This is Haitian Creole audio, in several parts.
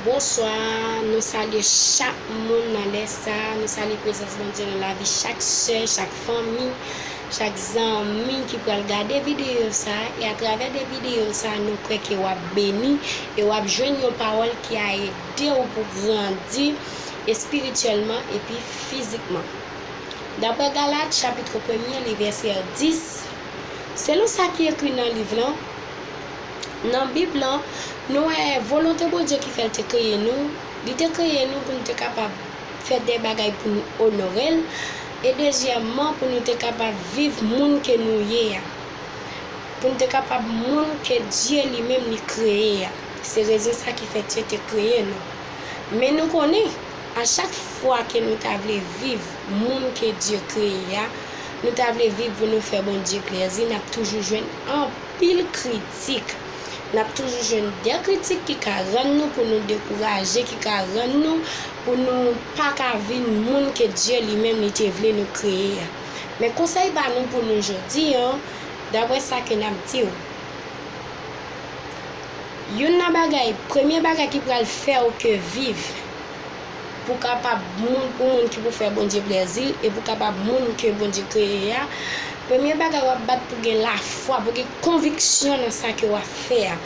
Bonswa, nou salye chak moun nan lè sa, nou salye prezans Bondye nan lavi chak sè, chak fanmi, chak zanmi ki pral gade videyo sa, e atravè de videyo sa nou kwè ke wap beni e wap jwenn yon pawòl ki a edew pou grandi espirityèlman epi fizikman. Daprè Galat chapitre premye li vèsè 10, selon sa ki ekri nan liv lan, Nan Bib la, nou wè volonte Bondye ki fè l te kreye nou, li te kreye nou pou nou te kapab fè de bagay pou nou onore l, e dezyèmman pou nou te kapab viv moun ke nou ye a, pou nou te kapab moun ke Dye li menm li kreye a. Se rezon sa ki fè Dye te kreye nou. Men nou konnen, a chak fwa ke nou ta vle viv moun ke Dye kreye a, nou ta vle viv pou nou fè Bondye plèzi, n ap toujou jwenn anpil. anpil kritik. N ap toujou jwenn dè kritik ki ka rann nou pou nou dekouraje, ki ka rann nou pou nou pa ka vin moun ke Dye li menm li te vle nou kreye a. Men konsèy pa nou pou nou jodi an, dapre sa ke n ap di ou, youn nan bagay, premye bagay ki pral fè ou ke viv, pou kapab moun ou moun ki pou fè Bondye plèzi e pou kapab moun ke Bondye kreye a, premye bagay wap bat pou gen lafwa, pou gen konviksyon nan sa ke wap fè a.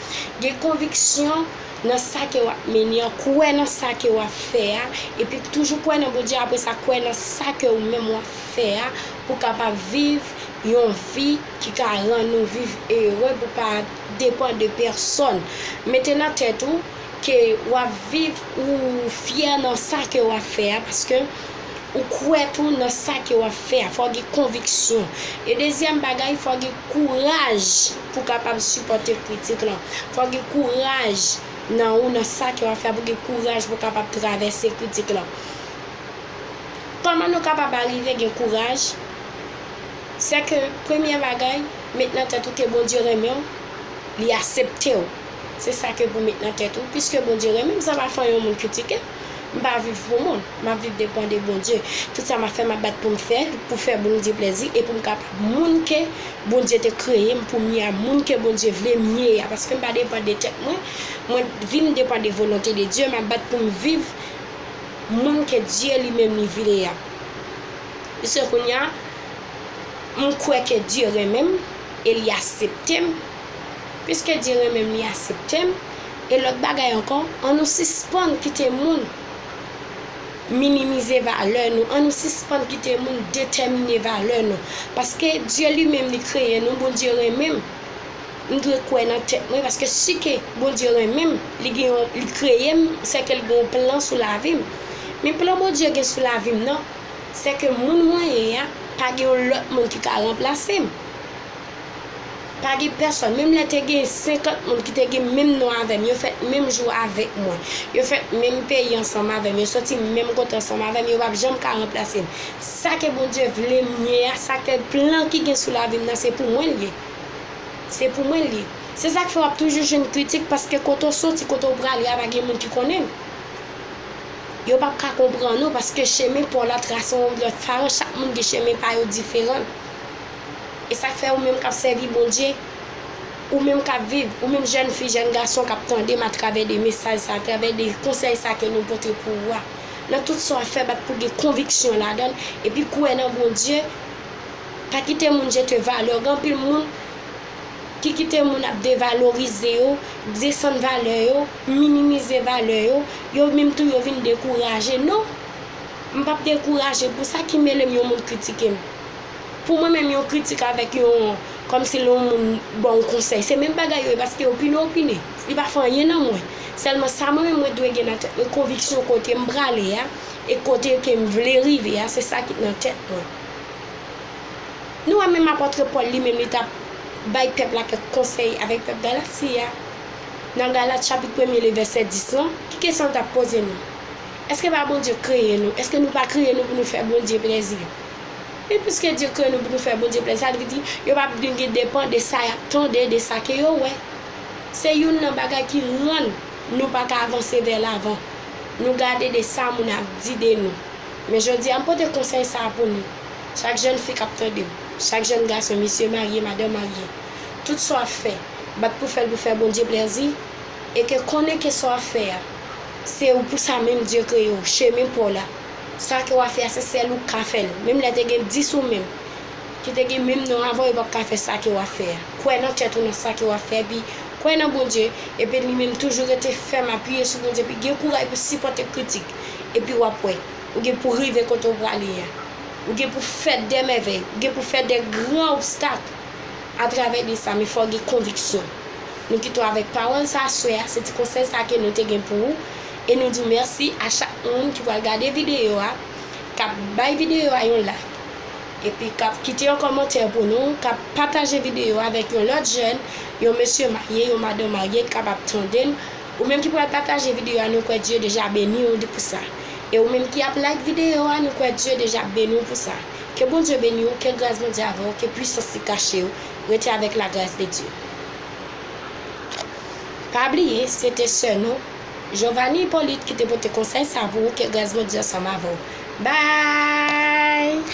Gen konviksyon nan sa ke wap mennen an, kwè nan sa ke wap fè a, epi toujou kwè nan Bondye apre sa kwè nan sa ke ou menm wap fè a pou kapab viv yon vi ki ka rann ou viv ere pou pa depan de pèsòn. Mete nan tèt ou Ke wap viv ou fyè nan sa ke wap fè a paske ou kwè tou nan sa ke wap fè a. Fò w gen konviksyon. E dezyèm bagay fò w gen kouraj pou kapab sipòte kritik lan. Fò w gen kouraj nan ou nan sa ke wap fè a pou gen kouraj pou kapab travèse kritik lan. Kòman nou kapab arive gen kouraj? Sè ke premyè bagay met nan tèt ou ke Bondye renmen w, li asepte w. Se sa ke pou met nan tèt ou, piske Bondye renmen m sa pa fè yon moun kritike m. M pa viv pou moun, m ap viv depan de Bondye. Tout sa m ap fè m ap bat pou m fè l pou fè Bondye plèzi e pou m kapab moun ke Bondye te kreye m pou m ye a, moun ke Bondye vle m ye a. Paske m pa depan de tèt mwen, mwen vin depan de volonte de Dye, m ap bat pou m viv moun ke Dye li menm li vle a. Piske kounye a m kwè ke Dye renmen m e li asepte m. Piske Dye renmen m li asepte m, e lòt bagay ankò, an nou sispann kite moun minimize valè nou, an nou sispann kite moun detèmine valè nou. Paske Dye li menm li kreye nou, Bondye renmen m, m dwe kwè nan tèt mwen paske si ke Bondye renmen m, li gen yon, li kreye m, se ke l gen yon plan sou lavi m. Men plan Bondye gen sou lavi m nan, se ke moun mwen ye a, pa gen yon lòt moun ki ka ranplase m. Pa gen pèsòn, menm lè te gen 50 moun ki te gen menm non avè m, yo fèt menm jou avèk mwen, yo fèt menm peyi ansanm avè m, yo soti menm kote ansanm avè m, yo pap janm ka ranplase m. Sa ke Bondye vle m ye a, sa ke plan ki gen sou lavi m nan, se pou mwen l ye. Se pou mwen l ye. Se sa k fè w ap toujou jwenn kritik, paske kote w soti, kote w prale a pa gen moun ki konnen l. Yo pap ka konprann ou, paske chemen pa w la trase yon lòt faran, chak moun gen chemen pa yo diferan. E sa k fè ou menm k ap sèvi Bondye, ou menm k ap viv, ou menm jèn fi, jèn gason k ap tande m atravè de mesaj sa, atravè de konsèy sa ke nou pote pou ou a, nan tout sa w ap fè bat pou w gen konviksyon ladan l, epi kwè nan Bondye, pa kite moun jete valè w, gen anpil moun ki kite moun ap devalorize yo, desann valè yo, minimize valè yo, yo menm tou yo vin dekouraje, non! M p ap dekouraje pou sa ki mele m yon moun kritike m. Pou mwen menm yon kritik avèk yon kòmsi lè yon moun ba w konsèy se menm bagay yo ye paske opine opine li pa fè anyen nan mwen sèlman sa mwen menm mwen dwe gen nan tèt mwen konviksyon kote m prale a e kote ke m vle rive a se sa ki nan tèt mwen nou wè menm apòtre Pòl li menm li t ap bay pèp la kèk konsèy avèk pèp Galati a nan Galat chapit premye li vèsè 10 lan ki kesyon l t ap poze nou èske pa Bondye kreye nou èske nou pa kreye nou pou nou fè Bondye plezi. Men piske Dieu kreye nou pou nou fè Bondye plezi, sa vle di yo pa blinge depan de sa y ap tande, de sa ke yo wè. Se youn nan bagay ki rann nou pa ka avanse vè lavan. Nou gade de sa moun ap di de nou. Men jodi a m pote konsèy sa a pou nou, chak jèn fi k ap tande m, chak jèn gason, mesye marye, madan marye, tout sa w ap fè, bat pou fè l pou fè Bondye plèzi, e ke konnen ke sa w ap fè a, se ou pou sa menm Dieu kreye w, chemen pa w la. Sa ke wa fè a se sèl ou ka fèl. Menm lè te gen 10 ou menm ki te gen menm non avan yo pap ka fè sa ke wa fè a. Kwè nan tèt ou nan sa ke wa fè epi kwè nan Bondye epi li menm toujou rete fèm apiye sou Bondye epi gen kouray pou sipòte kritik epi wap wè ou gen pou rive kote ou prale a. Ou gen pou fè dè mèvèy, ou gen pou fè dè gran obstak atravè de sa men fòw gen konviksyon. Nou kite w avèk pawòl sa swè a se ti konsèy sa ke nou te gen pou ou. E nou di mèsi a chak moun ki pral gade videyo a, k ap bay videyo a yon like, epi k ap kite yon kòmantè pou nou, k ap pataje videyo a avèk yon lòt jèn, yon mesye marye, yon madan marye ki kapab tande n. Ou menm ki pral pataje videyo a nou kwè Dye deja beni w pou sa. E ou menm ki ap like videyo a nou kwè Dye deja ap beni w pou sa. Ke Bondye beni w, ke gras Bondye avè w, ke pwisans li kache w, rete avèk lagras de Dye. Pa bliye, se te sè nou. Jovanie Hyppolite ki te pote konsèy sa pou ou ke gras Bondye ansanm avèw. Bye!